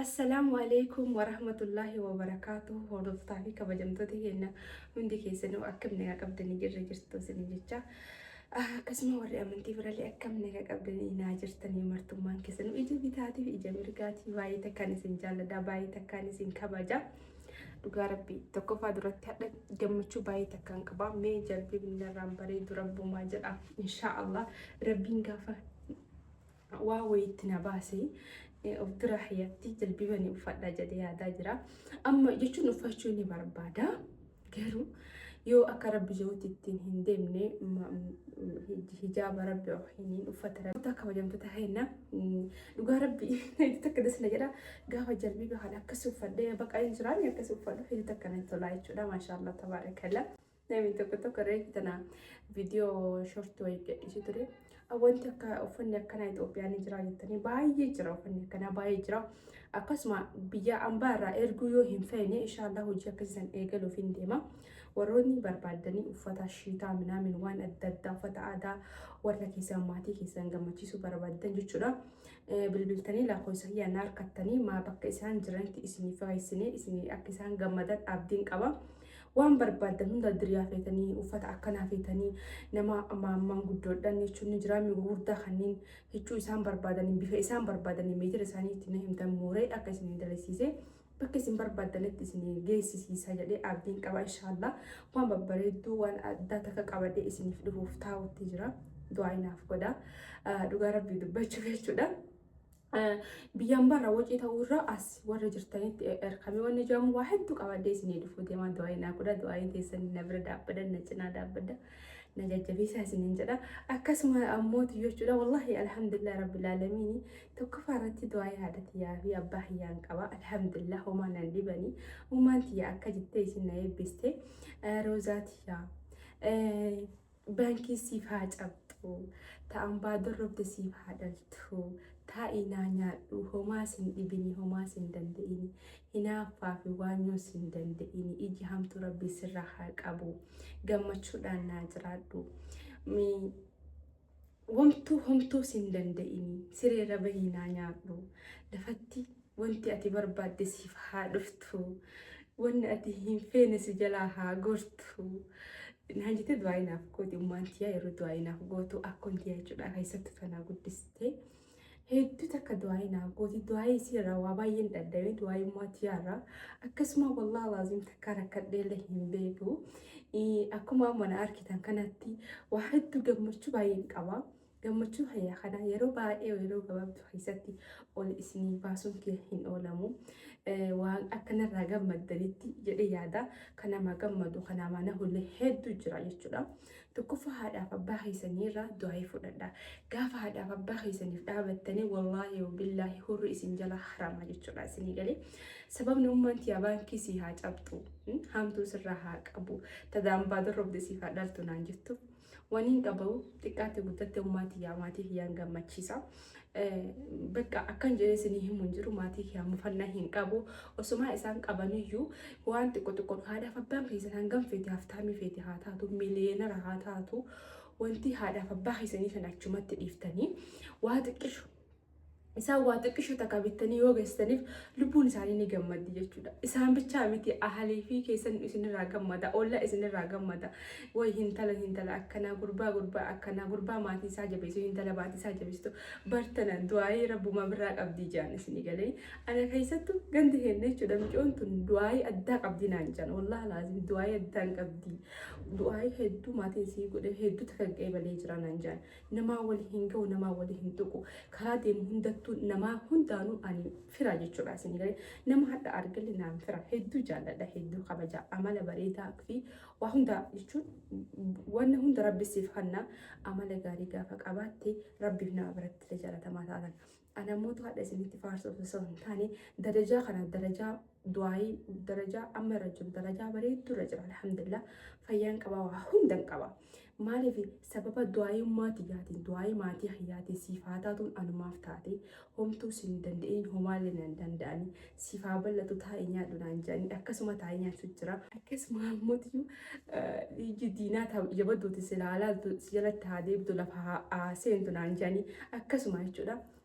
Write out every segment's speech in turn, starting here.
Assalaamu Aleeykum Warahmatullaahi Wabarakaatuhu Hordoftaa fi kabajamtoota keenya hundi keessanuu akkam nagaa qabdanii jirra jirtu isiniin jecha akkasuma warri amantii birallee akkam nagaa qabdanii naa jirtanii martummaan keessanuu ija bitaatii fi ija mirgaatii baay'ee takkaan isin jaalladha baay'ee takkaan isin kabaja dhugaa rabbi tokkoffaa duratti hadha gammachuu baay'ee takkaan qaba mee jalbii binnarraan bareedu rabbumaa jedha inshaa allah rabbiin gaafa waa wayitti na baase of bira hiyatti jilbiba ni uffadha jedhee yaadaa jira amma jechuun uffachuu ni barbaada garuu yoo akka rabbi jirutti ittiin hin deemne hijaaba rabbi hin uffata rabbi kabajamtoota kenna dhugaa rabbi takka dasna jedha gaafa jalbiba kan akkas uffadhee baqa hin jiraan akkas uffadhu hidhi takka natti tolaa jechuudha maashaallah tabaarakalla. Namni tokko tokko reefu tana viidiyoo shortii wayii gadhiisee ture. Wanti akka uffanni akkanaa Itoophiyaa ni jira jettanii baay'ee jira uffanni akkanaa baay'ee jira. Akkasuma biyya ambaa irraa erguu yoo hin feene inshaallah hojii akkasiisan eegaluuf hin deema. Warroonni barbaaddanii uffata shiitaa minaamin waan adda addaa uffata aadaa warra keessan maatii keessan gammachiisuu barbaaddan jechuudha. Bilbiltanii lakkoofsa kiyya na harkattanii maa bakka isaan jiranitti isiniif fageessinee isin akka isaan gammadan abdiin qaba. Waan barbaaddan hunda diriyaa feetanii, uffata akkanaa feetanii, nama maammaan guddoodhaan jechuun ni jira, mi'a gurguddaa kanneen hiccuu isaan barbaadaniin, bifa isaan barbaadaniin, meetira isaanii itti na himtan mooree akka isin dalisiisee bakka isin barbaaddanitti isin geessisiisa jedhee abdiin qaba inshaallah. Waan babbareedduu waan addaa takka qabadee isiniif dhufuuf taa'utti jira. Du'aa inaaf godha. Dhugaa rabbii dubbachuuf jechuudha. Biyyaan barra wacii ta'uu irra as warra jirtanitti erkame wanni jedhamu waa hedduu qabadee isinii dhufuu deemaa du'aayi naa godha du'aayi teessan na bira dhaabbadan na cinaa dhaabbadda na jajjabeessaa isiniin jedha akkasuma ammooti jechuudha wallahi alhamdulillah rabbil aalamiini tokkoffaa irratti du'aayi haadha tiyyaa fi abbaa kiyyaan qaba alhamdulillah homaa nan dhibani uumaan tiyya akka jettee isin na eebbiste roozaa tiyyaa Baankii siif haa cabxu. Ta ambaa dorrobde siif haa dhaltu. Taa'ii naa nyaadhu. Homaa sin dhibini homaa sin dande'ini. Hinaaffaa fi waanyoo sin dande'ini. Iji hamtuu Rabbii sirraa haa qabu. Gammachuudhaan naa jiraadhu. Mi Womtuu homtuu sin danda'inii siree irra bahii naa nyaadhu lafatti wonti ati barbaadde siif haa dhuftu wonni ati hin feene si jalaa haa gortu naan jette du'aa'ii naaf gooti ummaan tiyyaa yeroo du'aa'ii naaf gootu akkoon tiyyaa jechuudha keessattu tanaa guddistee hedduu takka du'aayii naaf gooti du'aayii isii irraa waa baay'een dhaddamee du'aayii ummaa tiyaa irraa akkasuma wallaahi laaziim takka rakkadhee illee hin beeku akkuma amma na argitan kanatti waa hedduu gammachuu baay'een qaba gammachuu hayya kana yeroo baay'ee yeroo gabaabdu keessatti ol isinii baasuun kee hin oolamu waan akkanarraa gammaddanitti jedhee yaada kanama gammadu kanama nahullee hedduu jira jechuudha. Tokkoffaa haadhaaf abbaa keessanii irraa du'aa'ii fudhadhaa. Gaafa haadhaaf abbaa keessaniif dhaabattanii wallaahi wabillaahi hurri isin jalaa haramaa jechuudha isinii galee. Sababni ummaan tiyaa baankii sii haa cabxu, haamtuu sirraa haa qabu, tadaan baadon robde siif haa dhaltu naan jettu. Waniin qabu xiqqaatte guddatte ummaa tiyaa maatii kiyyaan gammachiisa. Bakka akkan jedhee isinii himu hin jiru maatii kee mufannaa hin qabu osumaa isaan qabaniyyuu waan xiqqo xiqqoon haadhaaf abbaan keessan hangam feete haftaamii feete haa taatu miliyeenara haa taatu wanti haadhaaf abbaa keessanii sana achumatti dhiiftanii waa xiqqishu isaan waa xiqqishu takka bittanii yoo geessaniif lubbuun isaanii ni gammaddi jechuudha. Isaan bichaa miti ahalii fi keessan isinirraa gammada olla isinirraa gammada Woy hintala hintala akkanaa gurbaa gurbaa akkanaa gurbaa maatii isaa jabeesu hintala maatii isaa jabeesitu bar tanan du'aayii rabbumaa birraa qabdii jaan isinii galee ana keessattu gandi keenna jechuudha micoon tun du'aayii addaa qabdii naan jaan wallahi laazim du'aayii addaan qabdii du'aayii hedduu maatiin isii godhe hedduutti kan qeebalee jira naan jaan namaa walii hin ga'u namaa walii hin tuqu karaa deemu hundattuu namaa hundaanuu ani firaa jechuudha isinii galee nama hadha argalle naan fira hedduu jaalladha hedduu kabaja amala bareedaa fi Waa hunda jechuun wanna hunda rabbi siif hanna amala gaarii gaafa qabaatte rabbiif nama biratti illee jaalatamaa taatan. Ana mootu hadha isinitti faarsuuf osoo hin taane darajaa kana darajaa du'aayii darajaa amma irra jiru darajaa bareedduu irra jira alhamdulillah fayyaan qabaa waa hundan qaba. Maaliif sababa du'aayummaa tiyyaatiin du'aayii maatii kiyyaatiin siif haa taatuun anumaaf taate homtuu siin hin danda'in homaallee na hin danda'ani siif haa bal'atu taa'ii nyaadhu naan jedhanii akkasuma taa'ee nyaachuu jira. Akkasuma ammootiyyu dhiigii diinaa ta ija badduuti silaa laaltu si jalatti haa deebtu lafa haa seentu naan jedhanii akkasuma jechuudha.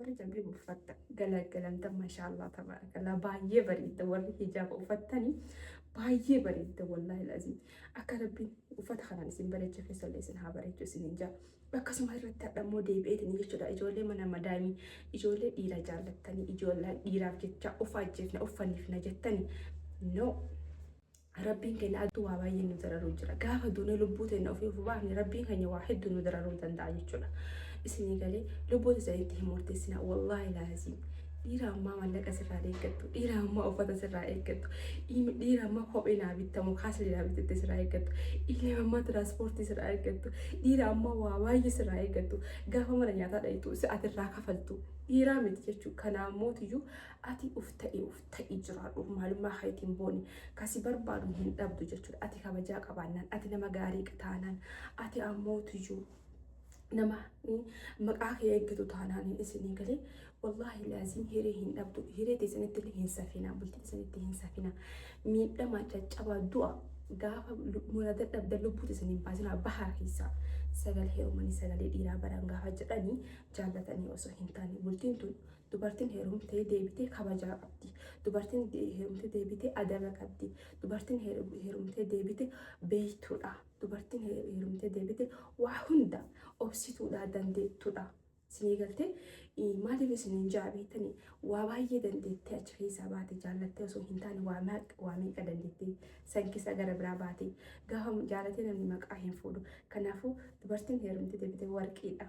Warri jalbiba uffatta galagalantan mashaallaa tabarakalaa baay'ee bareedda warri hijaaba uffattani baay'ee bareedda wallaahi laziim akka rabbiin uffata kanaan isin bareecha keessallee isin haa bareechu isin hin jaa akkasuma irratti hadha immoo deebi'eetin jechuudha ijoollee mana madaamii ijoollee dhiira jaallattanii ijoollee dhiiraaf jecha ufaa jeefna uffanniifna jettani no Rabbiin keenya adduu waa baay'ee nu dararuu jira. Gaafa duunee lubbuu teenna ofii of baafne Rabbiin keenya waa hedduu nu dararuu danda'a jechuudha. Isinii galee lubbuu teessan itti hin murteessina. Wallaahi laaziim. Dhiira ammaa mallaqa sirraa eeggattu. Dhiira ammaa uffata sirraa eeggattu. Dhiira ammaa kophee naa bittamu kaasli naa bittatte sirraa eeggattu. Dhiira ammaa tiraanspoortii sirraa eeggattu. Dhiira ammaa waa baay'ee sirraa eeggattu. Gaafa mana nyaataa dhayitu si atirraa kafaltu. Dhiiraa miti jechuudha. Kanaa mootiyyuu ati uf ta'e uf ta'i jiraadhu maalummaa keetiin booni ka si barbaadu hin dhabdu jechuudha ati kabajaa qabaannaan ati nama gaarii taanaan ati ammoo tuyyuu nama maqaa kee eeggitu taanaan isinii galee wallaahi laaziin hiree hin dhabdu hiree teessanitti illee hin safina bultii teessanitti hin safina miidhama caccabaa du'a gaafa murada dhabda lubbuu teessanii baasinaa bahaa keessaa sagalee heerumanii sagalee dhiiraa baran gaafa jedhanii jaallatanii osoo hin taane bultiin tun Dubartin heerumtee deebite kabajaa qabdi. Dubartin heerumtee deebite adaba qabdi. Dubartin heerumtee deebite beeytuudha. Dubartin heerumtee deebite waa hunda obsituudha, dandeettuudha. Sinii galtee maaliif isiniin ja'a beektanii waa baay'ee dandeettee achi keessaa baate jaallattee osoo hin taane waa meeqa waa meeqa dandeettee san keessaa gara biraa baate gaafa jaalatee namni maqaa hin fuudhu. Kanaafuu dubartin heerumtee deebite warqiidha.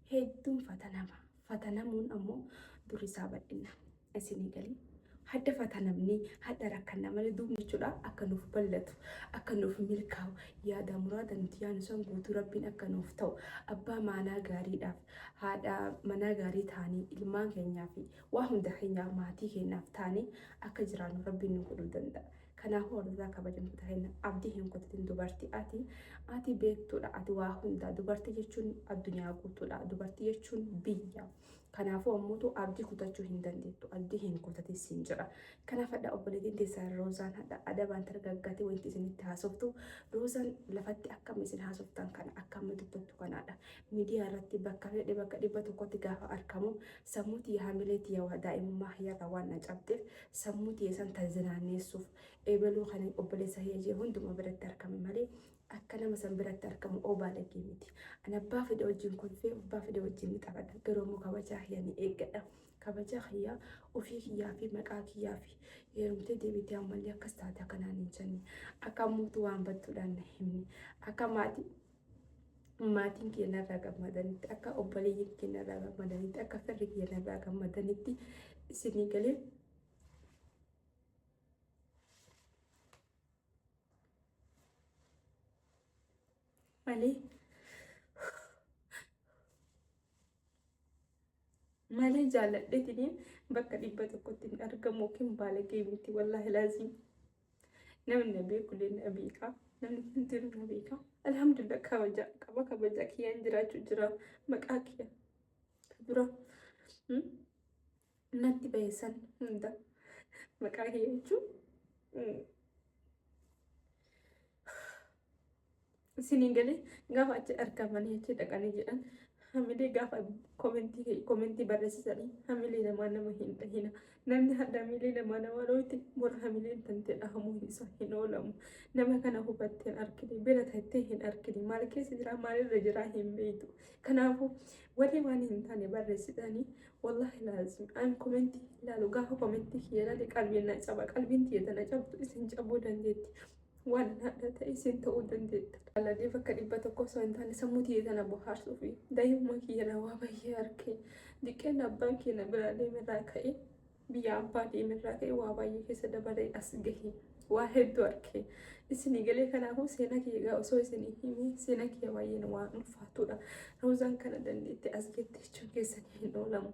hedduun fatanama. Fatanamuun ammoo durri isaa bal'inna. Isinii galii? Hadda fatanamnee, hadda rakkanna malee duubni jechuudha akka nuuf bal'atu, akka nuuf milkaa'u, yaadaa muraada nuti yaanu san guutuu Rabbiin akka nuuf ta'u, abbaa maanaa gaariidhaaf, haadha manaa gaarii taanee ilmaan keenyaa fi waa hunda keenyaaf maatii keenyaaf taanee akka jiraannu Rabbiin nu godhuu danda'a. Kanaafuu hordotaa kabajamtoota keenya abdii hin kutatin dubartii ati ati beektuudha ati waa hundaa dubartii jechuun addunyaa guutuudha dubartii jechuun biyya kanaafuu ammuutu abdii kutachuu hin dandeettu abdii hin kutatin siin jedha kanaaf hadha obboleetiin teessaa roozaan hadha adabaan targaggaatee wanti isinitti haasoftu roozaan lafatti akkam isin haasoftan kana akkam dubbattu kanaadha miidiyaa irratti bakka fedhe bakka dhibba tokkotti gaafa arkamu sammuuti hamilee tiyawaa daa'imummaa hiyyaarraa waan na cabxeef Sammuu tiyya san tan zinaanneessuuf, ebaluu kaniin obboleessa kiyya jee hundumaa biratti argame malee, akka nama san biratti argamu oo baalagee miti. Ani abbaa fedhe wajjiin kolfee, abbaa fedhe wajjiin ni taphadha. Garuu ammoo kabajaa kiyya ni eeggadha. Kabajaa kiyya ufii kiyyaa fi maqaa kiyyaa fi heerumtee deebitee ammallee akkas taate akka naan hin jenne, akka ammuutu waan badduudhaan na himne, akka maatii maatiin kiyya narraa gammadanitti akka obboleeyyiin kiyya narraa gammadanitti akka firri kiyya narraa gammadanitti isinii galee malee Malee jaaladhetini bakka dhibba tokkotti hin argamu yookiin baalagee miti wallaahi laaziim. Namni na beeku illee na beeka. Namni hundinuu na beeka. Alhamdulillah kabaja qaba kabaja kiyyaan jiraachuu jira maqaa kiyya dura mm, natti bahe san hunda maqaa kiyya jechuun mm, isiniin galee gaafa achi argamanii achi dhaqanii jedhan hamilee gaafa komentii komentii barreessisanii hamilee namaa nama hin dhahina namni hadda hamilee namaa namaa dhooyte bora hamileen tantee dhahamuu hin isaa hin oolamu nama kana hubattee hin argine bira tattee hin argine maal keessa jira maalirra jira hin beektu kanaafuu warri waan hin taane barreessitanii wallahi laazim an komentii ilaalu gaafa komentii kiyya ilaale qalbiin na caba qalbiin tiyya tana cabdu isin cabuu dandeetti Waan haadha ta'e sin ta'uu dandeetta. Jaalallee bakka dhibba tokko osoo hin taane sammuu tiyya tana bohaarsuufi. Daa'imummaa kiyya irraa waa baay'ee arge. Diqqeen abbaan kiyya na biraa deeme irraa ka'ee biyya abbaa deeme irraa ka'ee waa baay'ee keessa dabaree as gahe. Waa hedduu arge. Isinii galee kanaafuu seenaa kiyya egaa osoo isinii hime seenaa kiyya baay'een waan ulfaatuudha. Roozaan kana dandeetti as geette jechuun keessanii hin oolamu.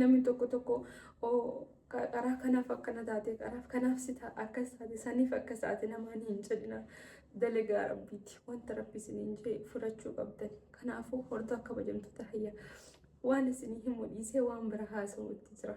Namni tokko tokko qaraa kanaaf akkana taate qaraaf kanaaf si ta'a akkas taate saniif akkas taate namaan hin jedhina dalagaa rabbiiti wanta rabbi isiniin jee fudhachuu qabdan kanaafuu hordaa kabajamtoota hayya waan isinii himu dhiisee waan bira haasa'uutti jira.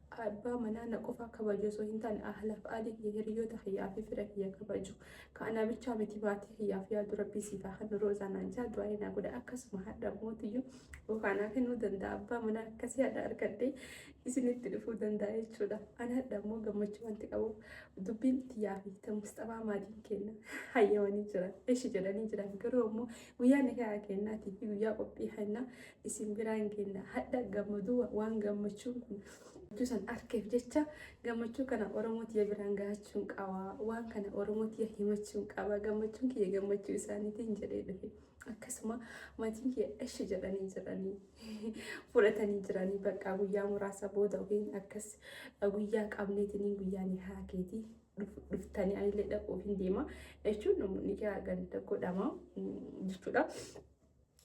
Ka abbaa manaa na qofaa kabaju osoo hin taane ahlaaf aalii kiyya hiriyyoota kiyyaa fi fira kiyya kabaju ka anaa bichaa miti maatii kiyyaaf yaadu rabbii siif haa kennu roozaa naan jaa du'aa'ii naa godha akkasuma hadha mootiyyu bofaa naa kennuu danda'a abbaa manaa akkasii hadha argadhee isinitti dhufuu danda'a jechuudha an hadha immoo gammachuu wanti qabuuf dubbiin tiyyaa fi ta musxabaa maatiin kenna hayyamanii jiran eshi jedhanii jiran garuu ammoo guyyaa nikayaa kennaatii fi guyyaa qophii hennaa isin biraa hin geenna hadha gammaduu waan gammachuun kun gammachuu san arkeef jecha gammachuu kana oromoo tiyya biraan gahachuun qaba waan kana oromoo tiyya himachuun qaba gammachuun kiyya gammachuu isaaniitiin jedhee dhufe akkasuma maatiin kiyya eshi jedhanii jiranii fudhatanii jiranii bakka guyyaa muraasa booda ofiin akkas guyyaa qabneetiniin guyyaa ni haakeetii dhuftanii anillee dhaquuf hin deema jechuun namoonni kiyaa ganda godhama jechuudha.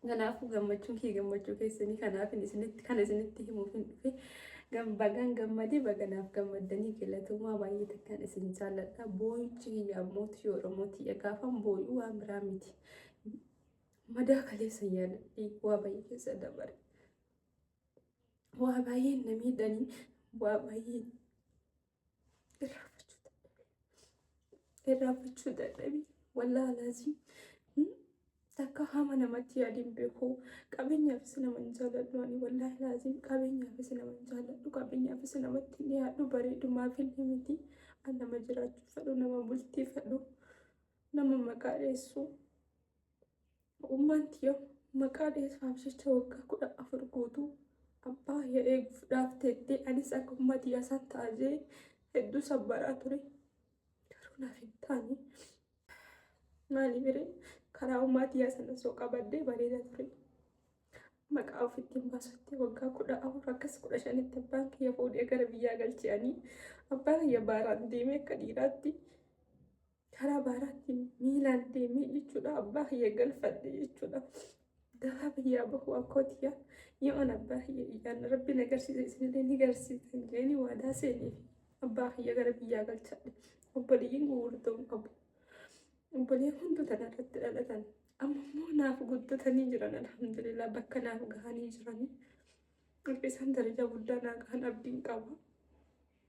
Kanaafuu gammachuun kee gammachuu keessanii kanaafin isinitti kana isinitti himuufin dhufe Gam- bagaan gammade baganaaf gammaddanii galatoomaa baay'ee takkaan isin jaalladha boo'ichi kiyya ammoo tiyya oromoo tiyya gaafan boo'u waan biraa miti madaa kaleessa yaadadhee waa baay'ee keessa dabare waa baay'ee na miidhanii waa baay'ee irraanfachuu dadhabee irraanfachuu dadhabee wallaalaazi takka hama namatti yaadin beeku qabeenyaafis nama hin jaalladhu ani wallaahi laaziin qabeenyaafis nama hin jaalladhu qabeenyaafis namatti hin yaaddu bareedumaaf hin miti an nama jiraachuu fedhu nama bultii fedhu nama maqaa dheessu Ogummaan tiyya maqaa dhees faamsicha waggaa kudha afur guutuu abbaa kiyya eeguuf dhaaf teettee anis akka ummaa tiyyaa san ta'a jee hedduu sabbaraa ture. Garuu naaf hin taane. Maaliif hiree karaa ummaa tiyyaa san osoo qabaddee bareeda ture. Maqaa ofitti hin baasutti waggaa kudha afur akkas kudha shanitti abbaan kiyya fuudhee gara biyyaa galche'anii abbaa kiyya baaraan deemee akka dhiiraatti karaa baaraatiin miilaan deemee jechuudha abbaa kiyya galfadhe jechuudha. Garaa biyyaa bahuu akkootiyaa yoon abbaa kiyya iyyaan rabbi na garsiise isinillee ni garsiisan jeeni waadaa seeneef abbaa kiyya gara biyyaa galchadhe obboleeyyiin gugurdoon qabu. Obbolee hunduu tanarratti dhalatan amma immoo naaf guddatanii jiran alhamdulillah bakka naaf gahanii jiranii. Akka isaan darajaa guddaa naa gahan abdiin qaba.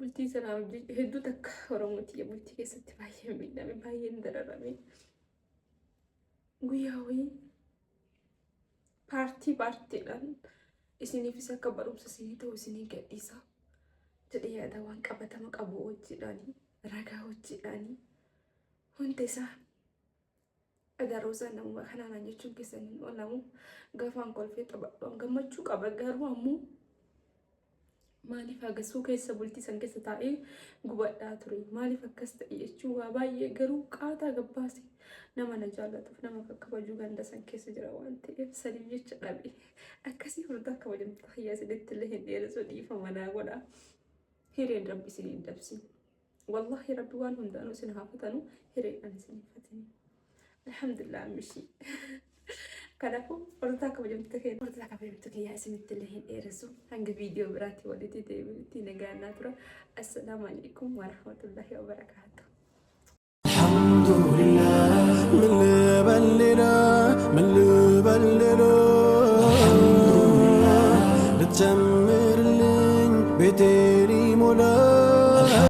Bultii sanaa hojii hedduu takka Oromoo tiyya bultii keessatti baay'ee miidhame baay'ee hin dararame. Guyyaa wayii paartii paartiidhaan isiniifis akka barumsa isinii ta'u isinii gadhiisa jedhee yaada waan qabatama qabu hojiidhaanii ragaa hojiidhaanii hunda isaa Egaa Roozaan namuma kanaa naan jechuun keessan hin oolamu. Gafaan kolfee taphadhuun gammachuu qaba garuu ammoo maaliif agasuu keessa bultii san keessa taa'ee gubadhaa ture maaliif akkas ta'e jechuun waa baay'ee garuu qaataa gabbaase nama na jaallatuuf nama akka kabajuu ganda san keessa jira waan ta'eef saniif jecha dhabe akkasii furdaa kabajamtu hayyaa isinitti illee hin dheeressu dhiifama naa godha hireen rabbi isin hin dabsin. Wallahi rabbi waan hundaanu isin haa fatanu hireedhan isin hin fatini alhamdulillah ammishii kanafu hordotaa kabajamtoota keenya hordotaa kabajamtoota keenya isinitti illee hin dheeressu hanga viidiyoo biraatti walitti deebinutti nagaannaa tura assalaamu alaikum warahmatullahi wabarakaatu Alhamdulillah,